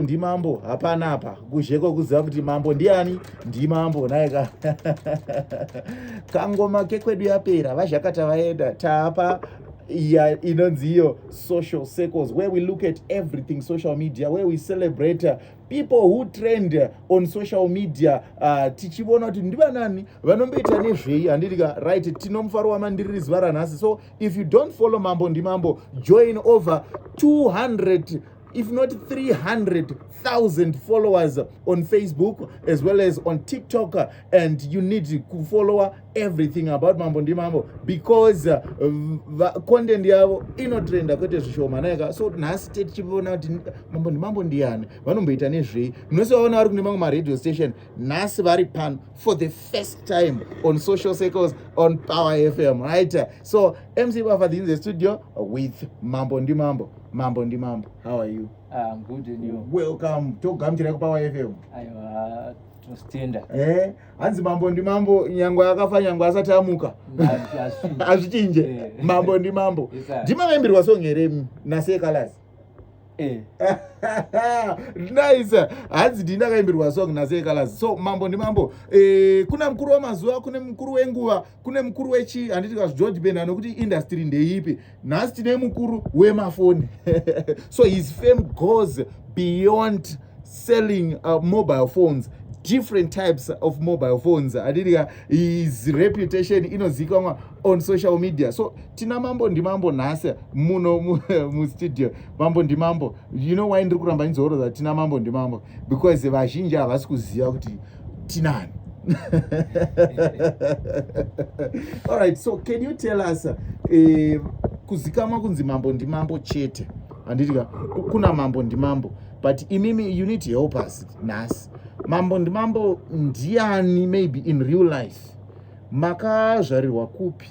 ndimambo hapana apa kuzheko kuziva kuti mambo ndiani ndimambo naye ka kangoma kekwedu yapera vazhakata vaenda taapa ya inonzi iyo social circles where we look at everything social media where we celebrate uh, people who trend uh, on social media uh, tichivona kuti ndivanani vanomboita nezvei handiti ka right tino mufaro wamandiriri zuva ranhasi so if you don't follow mambo ndimambo join over 200 if not 300,000 followers on Facebook as well as on TikTok uh, and you need to follow everything about Mambo ndi Mambo because uh, content yavo inotrenda kwete zvishoma naika so nhasi tete tichiona kuti Mambo ndi Mambo ndiyani vanomboita nezvei munose vaona vari kune mamwe maradio station nhasi vari pano for the first time on social circles on Power FM right so MC Bafadhinze studio with Mambo ndi Mambo mambo ndi mambo how are you ah, good and you welcome togamuchira kupa wafm aiwa tinostenda eh hanzi mambo ndi mambo nyangwe akafa nyangwe asati amuka azvichinje eh. mambo ndi mambo ndima vaimbirwa song here nase colors eh. nice hanzi ndini akaimbirwa song nase colors so mambo ndi mambo eh, kuna mukuru wamazuva kune mukuru wenguva kune mukuru wechi handiti kazi george ben anokuti industry ndeipi nhasi tine mukuru wemafoni so his fame goes beyond selling uh, mobile phones different types of mobile phones handiti ka his reputation inozivikanwa on social media so tina mambo ndimambo nhasi muno mustudio mambo ndimambo you know why ndiri kuramba ndizoroza tina mambo ndimambo because vazhinji havasi kuziva kuti tinani all right so can you tell us uh, eh, kuzikamwa kunzi mambo ndimambo chete handitika kuna mambo ndimambo but imimi you need to help us nhasi mambo ndimambo ndiani maybe in real life makazvarirwa kupi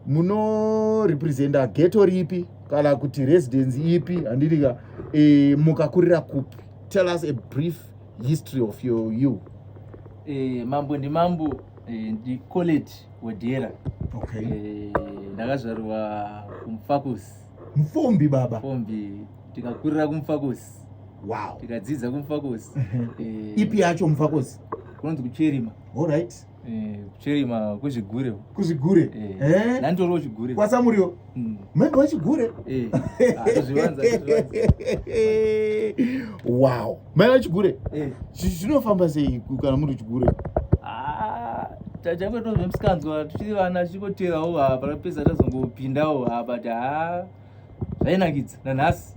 munorepresenta geto ripi kana kuti residence ipi handitika e, eh, mukakurira kupi tell us a brief history of your you eh, mambo ndimambo eh, ndicolet wadera okay. eh, ndakazvarwa kumfakusi mfombi baba mfombi tikakurira kumfakosi wow. tikadzidza kumfakosi mhm. eh, ipi yacho mfakosi kunonzi kucherima alright Eh, kuchirima kuzvigure kuzvigure eh, eh. nanditoriwo chigure kwasamuriwo hmm. mhembe wechigure wow mai wechigure zvinofamba sei kana muri chigure ah, tachange tozvemsikanzwa tichiri vana tichingoterawo apa rapedza tazongopindawo apa ti haa zvainakidza nanhasi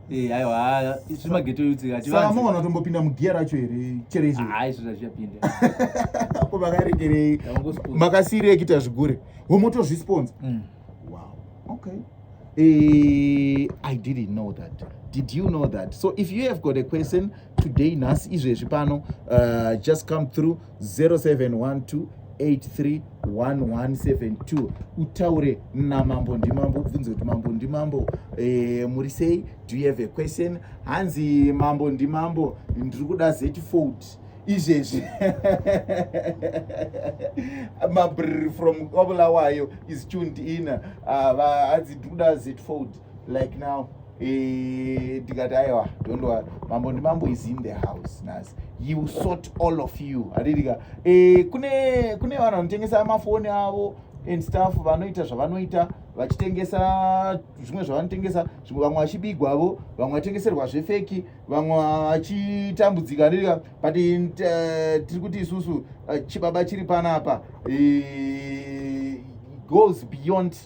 eh, aiwa izvi mageto yutsikasaa maona tombopinda mugiya racho here chere izvo hai izvo zvazviyapinda ko makaregerei makasiirei kuita zvigure womotozvisponsa mm. wow okay Eh, I didn't know that. Did you know that? So if you have got a question today, Nas, izvezvi pano, uh, just come through. 0712831172 utaure namambo ndimambo ubvunze kuti mambo ndimambo e, muri sei do you have a question hanzi mambo ndimambo ndiri kuda zetifold izvezvi mabrr from obulawayo is tuned in ah, hanzi ndiri kuda zetifold like now eh, tikati e, aiwa don't worry mambo ndimambo is in the house nhasi you sort all of you hatitika e, eh, kune kune vanhu vanotengesa mafoni avo and staff vanoita zvavanoita vachitengesa zvimwe zvavanotengesa zvimwe vamwe vachibigwavo vamwe vatengeserwa zvefeki vamwe vachitambudzika ndirika but eh, tiri kuti isusu eh, chibaba chiri panapa goes beyond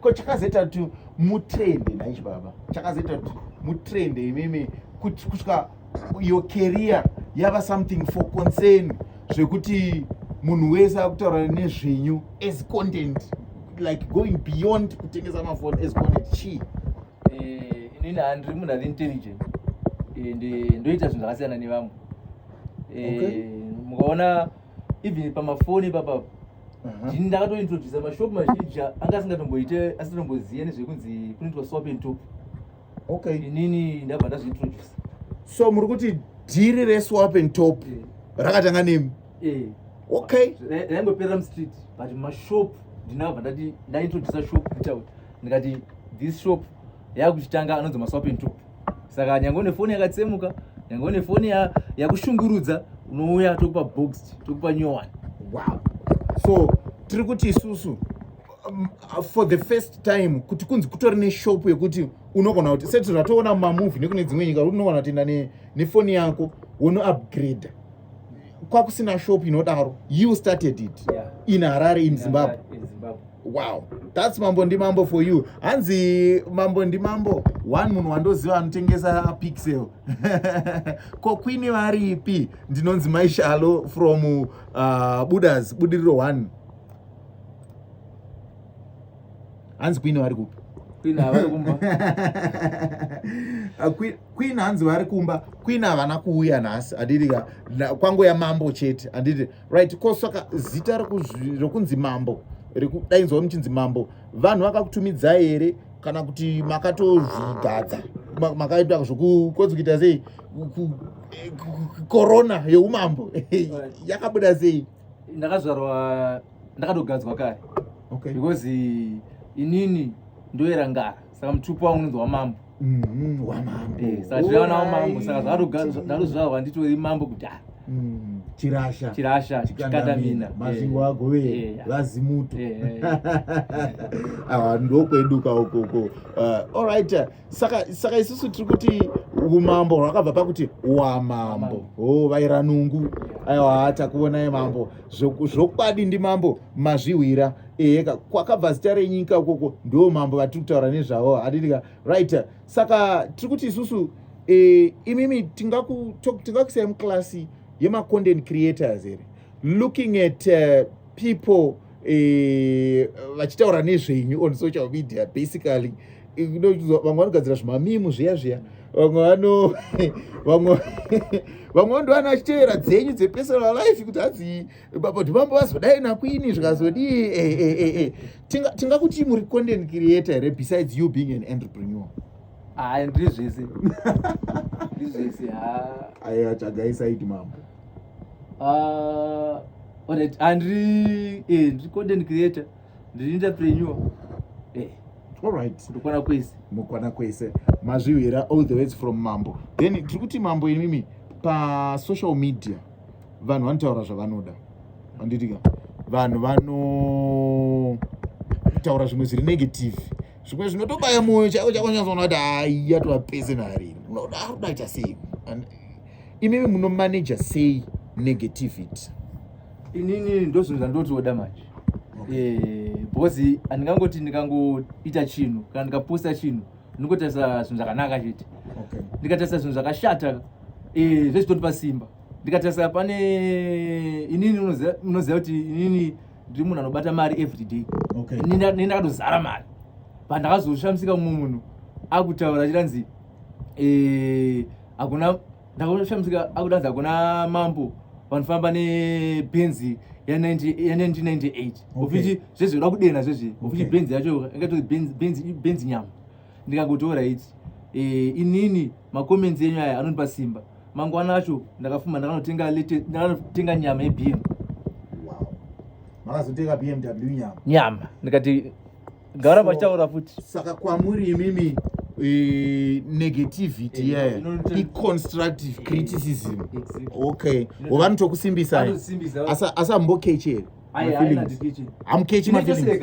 ko chakazoita kuti mutrende naichi baba chakazoita kuti mutrende imimi kusvika your career yava something for concern zvekuti munhu wese akutaura nezvenyu as content like going beyond kutengesa mafoni as content chii eh, inini handiri munhu ari intelligent eh, ndoita zvinhu zvakasiyana nevamwe eh, mukaona even pamafoni ipapa uh-huh. ndini ndakatointrodusa mashop mazhinji anga asingatomboite asitomboziva nezvekunzi kunoitwa swap and top okay inini ndabva ndazviintrodusa so muri kuti dhiri reswap and top eh. rakatanga nemi eh. okay raingoperera mustreet but mashop ndinabva ndati ndaintrodusa shop kutaura ndikati this shop yakuchitanga anonzi maswap and top saka nyangwe une foni yakatsemuka nyangwe une foni yakushungurudza unouya tokupa box tokupa new one wow so tiri kuti isusu um, for the first time kuti kunzi kutori neshop yekuti unogona kuti seti zvatoona mumamovhi nekune dzimwe nyika unogona kutienda nefoni yako wonoupgrade kwakusina shop inodaro you started it yeah. in harare in zimbabwe wow thats mambo ndi mambo for you hanzi mambo ndi mambo one munhu wandoziva anotengesa pixel ko kwini varipi ndinonzi maishalo from uh, budas budiriro one hanzi kwini vari kupi queen hanzi vari kumba queen havana kuuya nhasi handiti ka kwango yamambo chete handiti right ko saka zita rokunzi mambo rikudainzwa muchinzi mambo vanhu vakakutumidza here kana kuti makatozvigadza makaita zvokukonzi kuita sei korona yeumambo yakabuda sei ndakazvarwa ndakatogadzwa kare okay. because inini ndoerangara saka mutupo wangu unonzi wamambo mm-hmm, wamambo eh, saka tiraona wamambo saka zvakatozvarwa nditori mambo kudhara mm, chirasha chirasha chikandamina mazingo eh, ago vee eh, vazimuto awa ndokweduka ukoko uh, all right saka saka isusu tiri kuti umambo hwakabva pakuti wamambo o vaira nungu aiwa takuonai mambo zvokwadi ndi mambo mazvihwira eheka kwakabva zita renyika ukoko ndo mambo vatiri kutaura nezvavo hadiika right saka tiri kuti isusu e, imimi tingakuisai muklasi yemacontent creators here looking at uh, people eh, vachitaura nezvenyu on social media basically vamwe vanogadzira zvimamimu zviya zviya vamwe vano vamwe vamwe vandoana vachitevera dzenyu dzepersonal life kuti hadzi baba dhimambo vazodai nakwini zvikazodii eh, eh, eh, tingakuti muri content creator here besides you being an entrepreneur haa ndiri zvese ndiri zvese haa ayi atsvagaisai dhimambo Uh, alright, andri eh, ndri content creator, ndiri entrepreneur. Eh. Alright. Ndokwana kwese. Mukwana kwese. Mazvihwira all the ways from Mambo. Then tiri kuti Mambo imimi pa social media vanhu vanotaura zvavanoda. Anditika. Vanhu vano taura zvimwe zviri negative zvimwe zvinotobaya mwoyo chako chako nyazonati aiya tovapese nari unoda kudaita sei imimi munomanaja sei negativity inini ndozvinhu zvandoti oda manje eh, because handingangoti ndingangoita chinhu kana ndikaposta chinhu ndingotarisa zvinhu zvakanaka chete ndikatarisa zvinhu zvakashata eh, zvezvitondipa simba ndikatarisa pane inini unoziva kuti inini ndiri munhu anobata mari everyday ini ndakatozara mari pandakazoshamisika mumwe munhu akutaura chiranzi eh, Hakuna ndakushamisika akudanza hakuna mambo vanofamba nebhenzi ya 1998 ofiti zvezvi uda kudena zvezvi ofiti bhenzi yacho ingatozi bhenzi nyama ndikakutora iti eh, inini makomenzi enyu aya anondipa simba mangwana acho ndakafuma ndakanotenga nyama yebm makazotenga bmw nyama nyama ndikati gara vachitaura futi saka kwamuri imimi eh, negativity yeah iconstructive criticism okay wovanotokusimbisa asambokech here amukechi mafeelings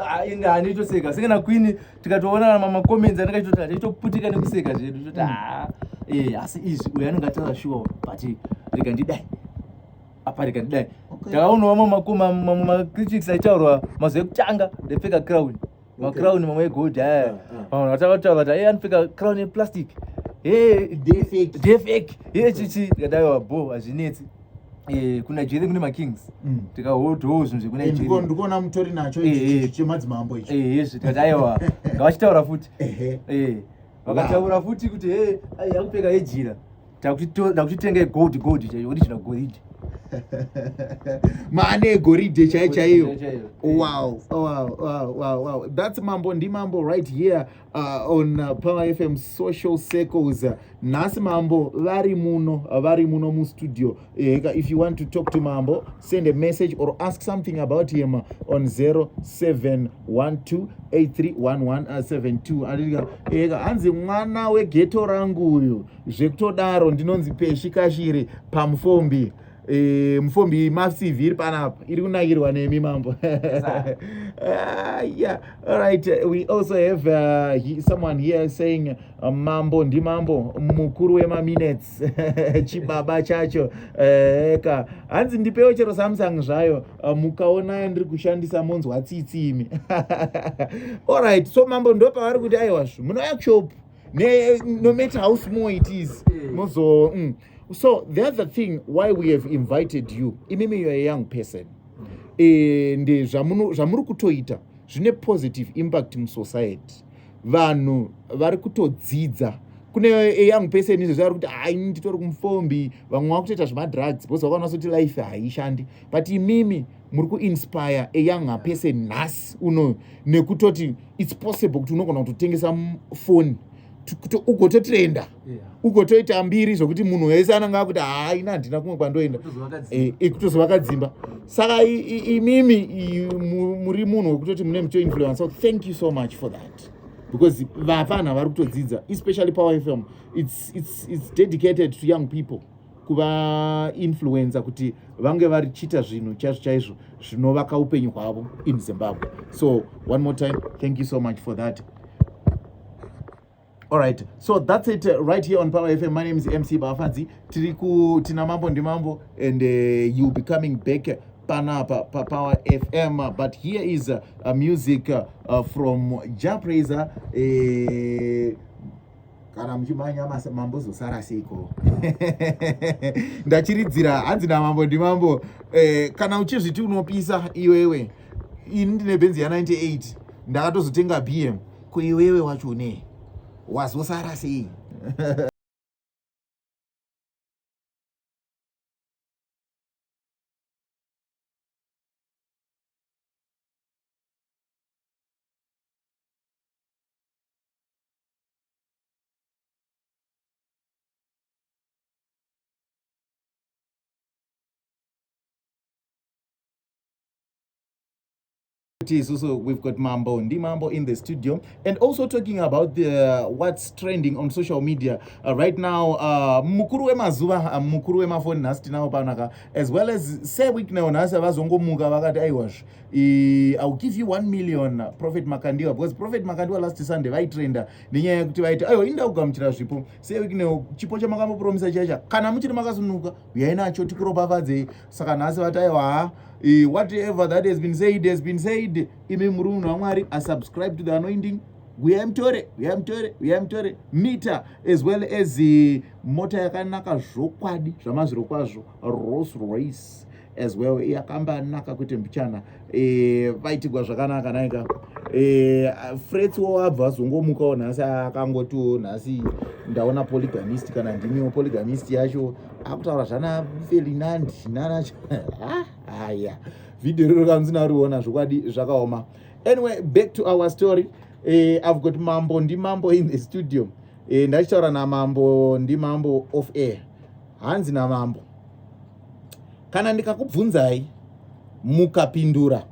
Ah, inga anitoseka senge nakwini tikatoonana mamacomments anenge achitoti achaitoputika nekuseka zvedu toti mm. haa ah, eh, asi izvi uyo anenge ataura shuwa but rega ndidai aparika kudai takaonawo mamacritics aitaurwa mazuva ekutanga ndepfeka crown macrown mamwe egold aya vamwe vatavataura kuti aye anopfeka crown yeplastic defek ye chichi tikadaiwa bo hazvinetsi Eh, kuna jere kune makings mm. tikahotowo zvinhu zvekunandikuona mutori nacho eh, eh. chemadzimambo icho yezve tikati aiwa ngavachitaura futi vakataura futi kuti he akupfeka yejira ndakuchitenga gold gold chaiyo kuti china goridhe maane egoridhe chai chaiyo wow wow wow wow wow that's mambo ndi mambo right here uh, on uh, power fm social circles nhasi mambo vari muno vari muno mustudio eh, if you want to talk to mambo send a message or ask something about him on 0712831172 uh, eh, hanzi mwana wegeto rangu uyu zvekutodaro ndinonzi peshi kashiri pamufombi e, mufombi macv iri panapa iri kunakirwa nemi mambo ah, yeah. alright we also have uh, he, someone here saying uh, mambo ndimambo mukuru wemaminutes chibaba chacho eh, ka uh, hanzi ndipewo chero samsung zvayo uh, mukaona ndiri kushandisa monzwa tsitsi imi alright so mambo ndopavari kuti aiwazvo munouya kushop ne no matter how small it is eh. mozo mm. so the other thing why we have invited you imimi you're a young person mm. and eh, zvamuri kutoita zvine positive impact musociety vanhu vari kutodzidza kune eyoung person izvezvi ari kuti haini titori kumufombi vamwe vakutoita zvemadrugs because vakaona sekuti life haishandi but imimi muri kuinspire a younger person nhasi unoyo nekutoti its possible kuti unogona kutotengesa foni ugototrenda ugotoita mbiri zvokuti munhu wese ananga akuti haaina handina kumwe kwandoenda ikutozova eh, eh, kadzimba saka imimi muri munhu wekutoti mune mucho influence so thank you so much for that because vapfanha vari kutodzidza especially power fm it's, it's, it's dedicated to young people kuvainfluenza kuti vange varichiita zvinhu chaizvo chaizvo zvinovaka upenyu hwavo in zimbabwe so one more time thank you so much for that All right. So that's it uh, right here on Power FM. My name is MC Bafanzi. Tiriku Tinamambo Ndimambo and uh, you'll be coming back uh, Pana pa, pa Power FM. Uh, but here is uh, a music uh, uh, from Jah Prayzah. Uh, kana muchimhanya mambo zosara seiko ndachiridzira hanzi namambo ndimambo eh, kana uchizviti unopisa iwewe ini ndine benzi ya 98 ndakatozotenga bm ko iwewe wacho ne wazosara sei So, so we've got Mambo Ndi Mambo in the studio, and also talking about the uh, what's trending on social media uh, right now. Uh, mukuru wemazuva uh, mukuru wemafoni nhasi tinawo panaka as well as Sir Wicknell nhasi vazongomuka vakati aiwazve Eh, I'll give you 1 million uh, Prophet Makandiwa because Prophet Makandiwa last Sunday vaitrenda nenyaya yekuti vaiti ayo inda kugamuchira zvipo sei wiki newo chipo chamakambopromisa chacha kana muchiri makasunuka uyai nacho tikuropafadzei saka nhasi vati ayo haa eh, whatever that has been said has been said imi muri munhu wamwari asubscribe to the anointing uyai mutore uyai mutore uyai mutore mita as well as eh, mota yakanaka zvokwadi zvamazviro kwazvo Rolls Royce as well e, akambanaka kuti mbichana e, vaitigwa zvakanaka naika e, frets wo abva azongomukawo nhasi akangotiwo nhasi ndaona polygamist kana ndimiwo polygamist yacho akutaura zvana felinandi nana haya vhidhiyo riro kanzi nariona zvokwadi zvakaoma anyway back to our story e, i've got mambo ndimambo in the studio e, ndachitaura namambo ndimambo of air hanzi namambo kana ndikakubvunzai mukapindura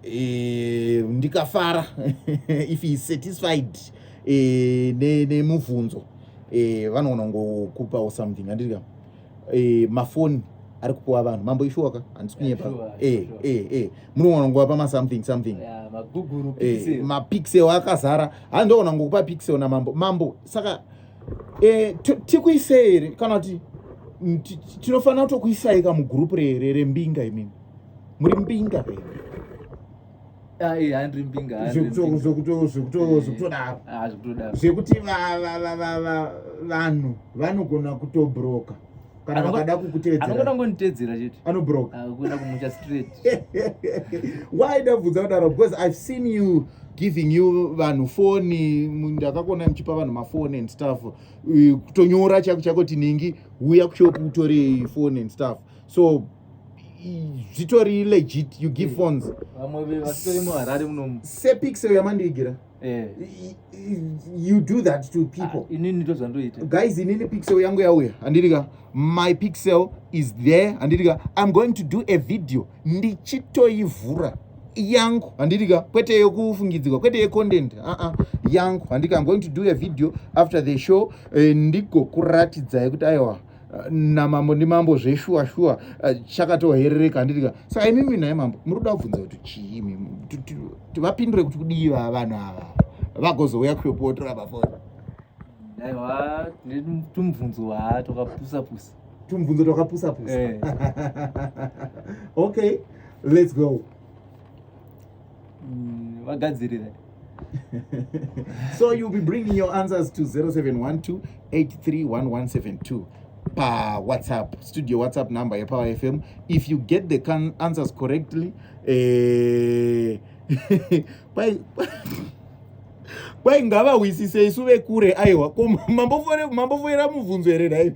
e, ndikafara if he is satisfied e, nemubvunzo ne e, vanogona ngokupawo something andirika e, mafoni ari kupuwa vanhu mambo ishuwaka handisi kunyepa eh, eh, eh. munogona nguvapa masomething something mapixel akazara hanzi ndogona ngokupa pixel namambo mambo saka e, tikuisei here kana kuti tinofanira kutokuisai ka mugroup rere rembinga imimi muri mbinga here zvekutodaro zvekuti vanhu vanogona kutobroka kana vakada kukutevedzera anoda kungonditevedzera chete anobroke akuenda ah, kumucha straight why ndabvunza kudaro because i've seen you giving you vanhu foni ndakakuona muchipa vanhu mafoni and stuff kutonyora chako chako tinhingi huya kushop utore foni and stuff so zvitori legit you give mm. phones vamwe vasitori muharare munomu sepixel yamandiigira Eh. you do that to people ah, inini ndozvandoita guys inini pixel yangu yauya handiti ka my pixel is there handiti ka i'm going to do a video ndichitoivhura yangu handiti ka kwete yekufungidzirwa kwete yecontent aa uh -uh. yangu handiti ka i'm going to do a video after the show eh, ndigokuratidzai kuti aiwa namambo ndimambo zveshuwa shuwa eh, chakatoherereka handitika saka imimi naye mambo muri kuda kubvunza kuti chii imimi tivapindure kuti kudii va vanhu ava vagozouya kuyopotora pafoni aiwa tumubvunzo haa twakapusa pusa tumubvunzo twakapusa pusa eh. okay let's go mm, vagadzirira so you'll be bringing your answers to 0712 831172 pa whatsapp studio whatsapp number yepower fm if you get the answers correctly eh, kwai ngavahwisise isu vekure aiwa ko mambofoera mubvunzo here nhaivi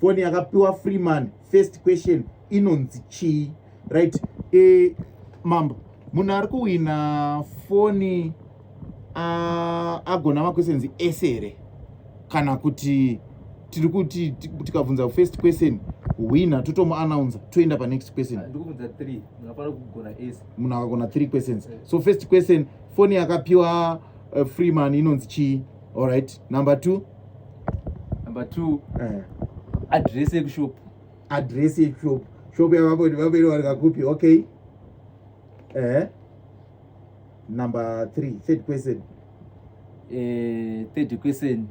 foni yakapiwa freeman first question inonzi chii right e, mambo munhu ari kuhwina foni agona maquestions ese here kana kuti tiri kuti tikabvunza first question hwina totomuannounsa toenda panext question munhu akagona three questions eh. so first question foni yakapiwa uh, freeman inonzi chii allright number two number two eh. address yekushop address yekushop shop yavavo ndivaviri vari kakupi okay eh number three third question eh, third question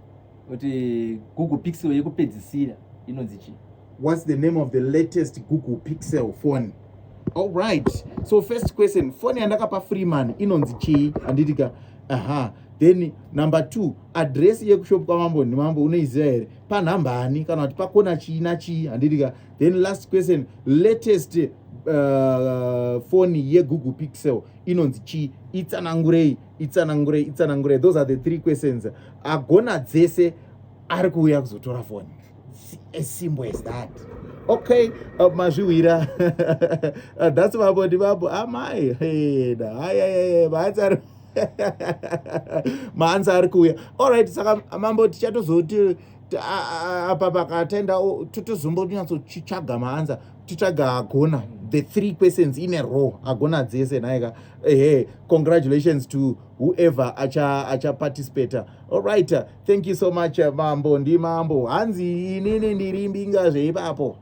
kuti google pixel yekupedzisira inonzi chii what's the name of the latest google pixel phone all right so first question phone yandakapa freeman inonzi chii handiti ka aha then number two address yekushop kwamambo nemambo unoiziva here panhambani kana kuti pakona chii nachii handiti ka then last question latest uh, phone yegoogle pixel inonzi chii itsanangurei itsanangurei itsanangurei those are the three questions agona dzese ari kuuya kuzotora phone as simple as that okay uh, mazvihwira uh, that's babo ndi babo amai heda hayayaye maanzi ari maanzi ari kuuya allright saka mambo tichatozoti apa pakatenda totozombonyatsochitsvaga maanza titsvaga agona the three questions in a row agona dzese nhaika ehe congratulations to whoever achaparticipata acha allright Thank you so much eh, mambo ndi mambo hanzi inini ndiri mbinga zveipapo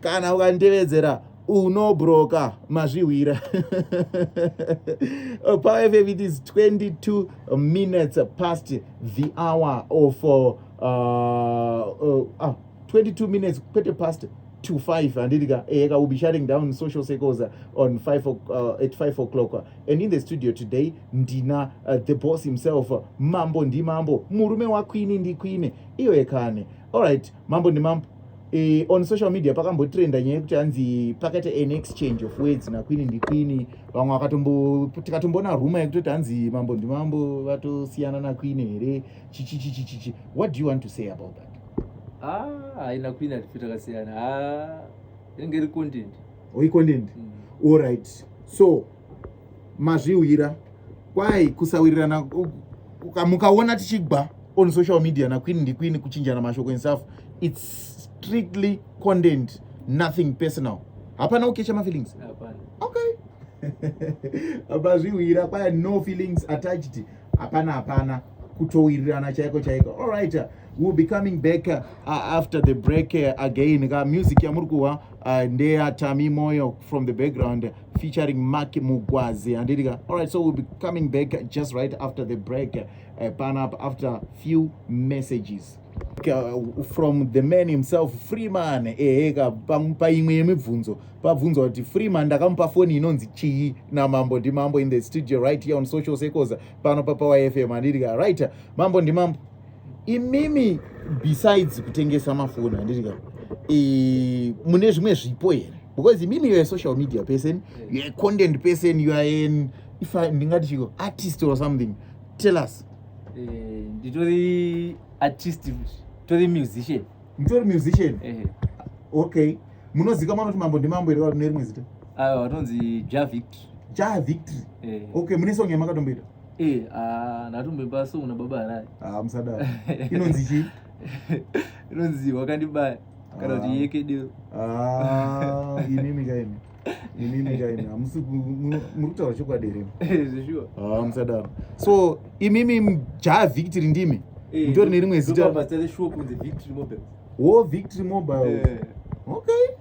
kana ukanditevedzera unobroka mazvihwira oh, power fm it is 22 minutes past the hour of uh, uh, uh, 22 minutes kwete past to 5 handiti ka ehe eh, ka will be shutting down social circles on 5 uh, at 5 o'clock and in the studio today ndina uh, the boss himself mambo ndimambo murume wakwini ndikwine iyo yekane allright mambo ndimambo E, on social media pakambotrenda nyaya yekuti hanzi pakaita an exchange of words nakwini ndikwini vamwe vakatombotikatomboona ruma yekutoti hanzi mambo ndimambo vatosiyana nakwini here chichichichichichi what do you want to say about that ah, haina kwini atifi takasiyana ah, inenge iri content oikondendi mm. orit so mazviwira kwai kusawirirana mukaona tichigba on social media nakwini ndikwini kuchinjana mashoko ensafu its strictly content nothing personal hapana ukecha mafeelings okay abazviwira kwaya no feelings attached hapana hapana kutowirirana chaiko chaiko all right uh, we'll be coming back uh, after the break uh, again ka music yamuri kuhwa uh, ndeya tami moyo from the background featuring mark mugwazi handiti ka all right so we'll be coming back just right after the break uh, pan up after few messages uh, from the man himself freeman ehe ka paimwe yemibvunzo pabvunzwa kuti freeman ndakamupa foni inonzi chii namambo ndimambo in the studio right here on social circles pano papower fm andirika right mambo ndimambo imimi besides kutengesa mafoni andirika e, mune zvimwe zvipo here because imimi youare social media person youare content person youare an if ndingati chiko artist or something tell us eh, nditori artist tori musician mutori musician ehe okay munozika mwana kuti mambo ndimambo here vane rimwe zita ayo vatonzi ja victory ja victory ehe okay mune song yamakatomboita eh ah ndatomboimba song na baba harai ah musadaro inonzi chii inonzi wakandibaya kana kuti Ah. yekedero ah imimi kaimi inini kaini hamusi muri kutaura chokwadi here ah, musadaro so imimi mjaa victory ndimi eh, mutori nerimwe zita wo victory mobile eh. okay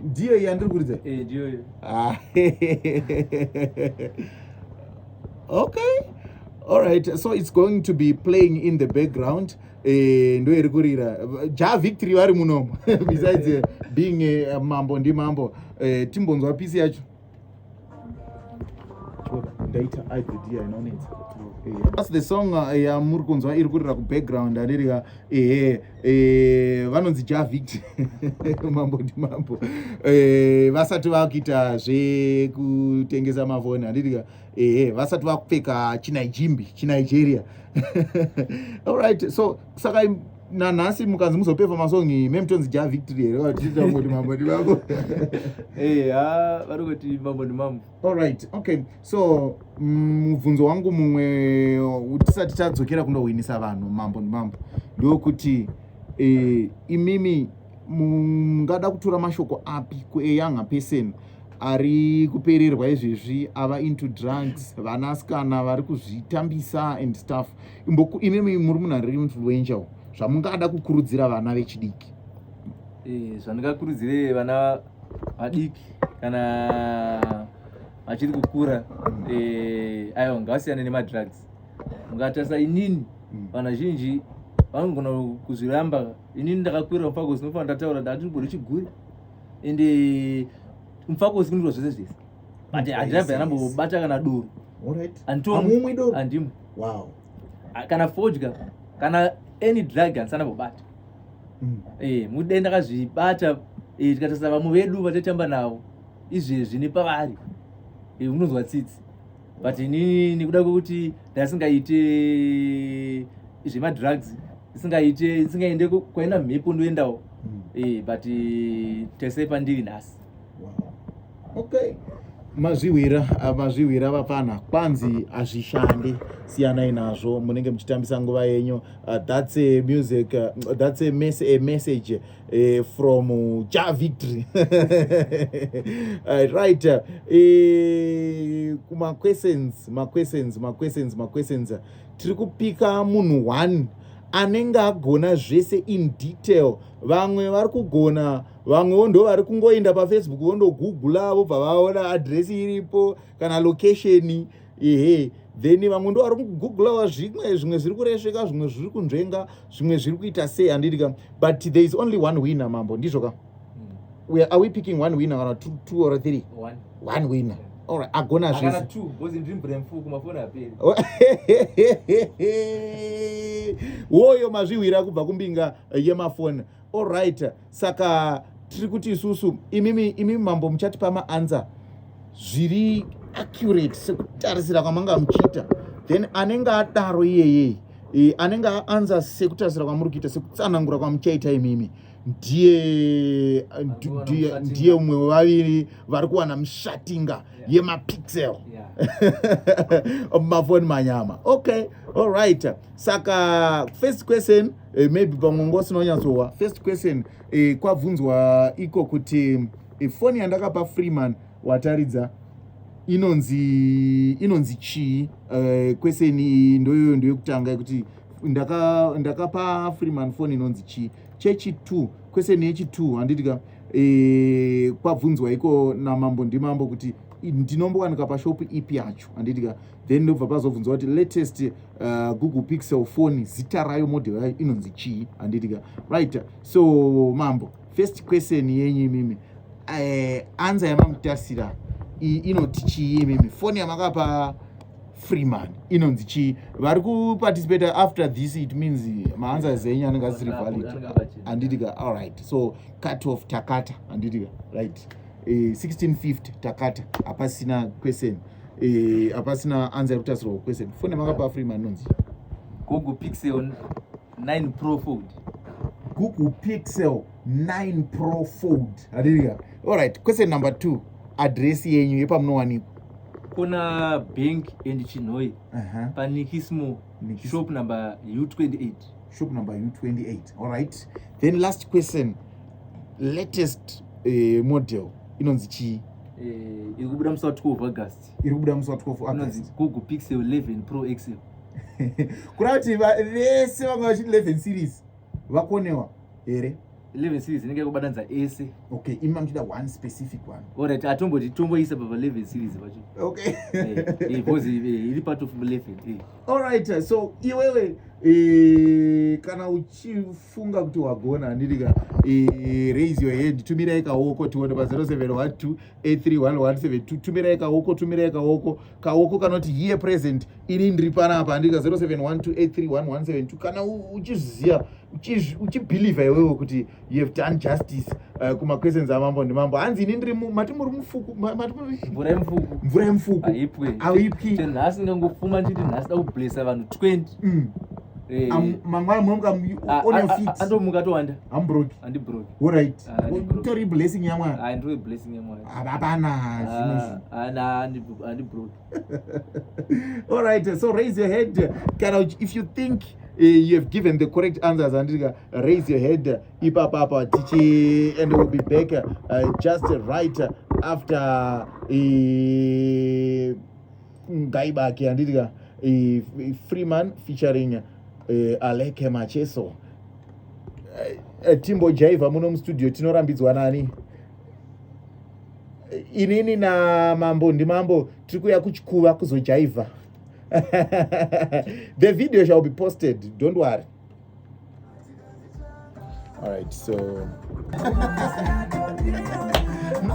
ndiyo iyi andiri kuridza eh, ah, okay all right so it's going to be playing in the background Eh, ndo iri kurira ja victory vari muno besides eh, being eh, mambo ndi mambo timbonzwa pisi yacho ndaita idea inonetsa That's the song uh, yamuri uh, kunzwa iri kurira kubackground andirika ehe eh, vanonzi javit mambo ndi mambo eh, vasati vakuita zvekutengesa mafoni andirika ehe vasati vakupfeka chinijimbi chinigeria allright so saka nanhasi mukanzi muzopeva masongi memutonzi ja victory here vatiitangoti mambo ndimambo eh, ha vari kuti mambo ndimambo allright okay so mm, mubvunzo mm, wangu mumwe tisati tadzokera kunohwinisa vanhu mambo ndimambo ndokuti eh, imimi mungada kutora mashoko api kueyanga person ari kupererwa izvezvi ava into drugs vanasikana vari kuzvitambisa and stuff imimi muri munhu ari influential zvamungada kukurudzira vana vechidiki eh, zvandingakurudzire vana vadiki kana vachiri kukura eh, aiwa ngavasiyane nemadrugs ungatarisa inini mm. vanhu vazhinji vanogona kuzviramba inini ndakakwira mufakosi nofana ndataura ndati ndigone chiguri and eh, mufakosi kundirwa zvese zvese but handirabve anambobata kana doro anditomumwi doro handimwe wow ah, kana fodya kana any drug handisi anambobata mm. eh mudai ndakazvibata eh, tikatarisa vamwe vedu vataitamba navo izvezvi nepavari eh, unonzwa tsitsi but inini nekuda kwekuti ndasingaite zvemadrugs isingaite isingaende kwaina mhepo ndoendawo hmm. eh, but eh, tese pandiri nhasi okay mazvihwira ah, mazvihwira vapana kwanzi hazvishande siyanai nazvo munenge muchitambisa nguva yenyu ah, that's a music ah, that's a, mes a message eh, from cha victory eh, right eh, kumaquestions maquestions maquestions maquestions tiri kupika munhu one anenge agona zvese in detail vamwe vari kugona vamwewo ndo vari kungoenda pafacebook vondogoogla vobva vaona adresi iripo kana location ehe then vamwe ndo vari kugooglawa zvimwe zvimwe zviri kuresveka zvimwe zviri kunzvenga zvimwe zviri kuita sei handiti ka but there is only one winner mambo ndizvo ka hmm. are we picking one winner kana two, two or three one, one winner yeah alright agona zvese woyo mazvihwira kubva kumbinga yemafoni alright saka tiri kuti isusu imimi imimi mambo muchatipa maanza zviri accurate sekutarisira kwamanga muchiita then anenge adaro iyeyei e, anenge aanza sekutarisira kwamuri kuita sekutsanangura kwamuchaita imimi ndiye ndiye umwe wevaviri vari kuwana mishatinga yemapixel mafoni manyama okay allright saka first question Eh, maybe pamwe ngo usina kunyatsohwa first question eh, kwabvunzwa iko kuti eh, foni yandakapa freeman wataridza inonzi inonzi chii eh, question iyi ndoyoyo ndoyekutanga yekuti ndaka ndakapa freeman foni inonzi chii chechitwo question yechitwo handiti ka eh, kwabvunzwa iko namambo ndimambo kuti ndinombowanika pashopu ipi yacho handiti ka then ndobva pazobvunzwa kuti latest uh, google pixel phone zita rayo model yayo inonzi chii handitika right so mambo first question yenyu imimi uh, anza yamamutasira iyi inoti chii imimi foni yamakapa freeman inonzi chii vari kuparticipate after this it means maanza zenyu anenge asiri valid handitika all right so cut off takata handitika right uh, eh, 1650 takata hapasina question eh apasina answer yekuti asirwa question phone makapa free manonzi Google Pixel 9 Pro Fold Google Pixel 9 Pro Fold haleluya all right question number 2 address yenyu yepamunowanikwa kuna bank and chinhoi uh -huh. panikismo Nikis... shop number u28 shop number u28 all right then last question latest eh, model inonzi chii eh, iri kubuda musi wa 12 august iri kubuda musi wa 12 inonzi august google pixel 11 pro xl kureva kuti va- vese vanga vachiti 11 series vakonewa here 11 series inenge yakubatanidza ese okay imi mamuchida one specific one orit atomboti tomboisa papa 11 series pacho okay Eh, eh, because eh, iri part of 11 eh. alright so iwewe eh, kana uchi funga kuti wagona handitika eh, raise your hand tumirai kaoko tione pa 0712831172 tumirai kaoko tumirai kaoko kaoko kanoti here present ini ndiri panapa handitika 0712831172 kana uchizviziva uchibhilivha iwewo kuti you have done justice uh, kumaquestions amambo ndimambo hanzi ini ndiri mati muri mufuku mvura yemufuku mvura yemufuku aipwe aipwi nhasi ndangopfuma nditi nhasi da kublesa vanhu 20 mm. Eh. mangwana munomuka ah, on your ah, ah, feet andomuka towanda i'm broke andi broke all right utori blessing ya mwana ah ndiri blessing ya mwana hapana zvino ana andi broke all right so raise your head kana if you think uh, you have given the correct answers andika raise your head ipapa apa tichi and we'll be back uh, just right after uh, gai baki handiti ka eh, freeman featuring eh, aleke macheso eh, timbo jaiva muno mustudio tinorambidzwa nani inini namambo ndimambo tiri kuya kuchikuva kuzojaivha the video shall be posted don't worry All right, so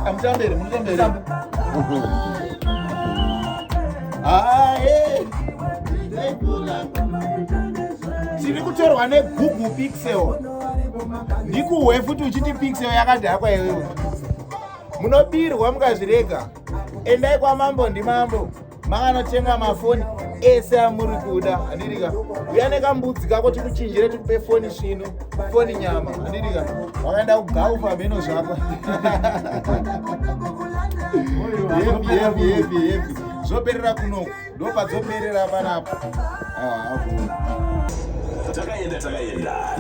I'm down there. I'm down there. Ah, hey. tiri kutorwa negoogle pixel ndikuhwe futi uchiti pixel yakadhakwa iwewe munobirwa mukazvirega endai kwamambo ndimambo makanotenga mafoni ese amuri kuda handirika uya nekambudzi kako tikuchinjire tikupe foni svinu foni nyama handirika wakaenda kugaufa hameno zvako zvoperera kuno ndopadzoperera panapo ah, takaenda takaenda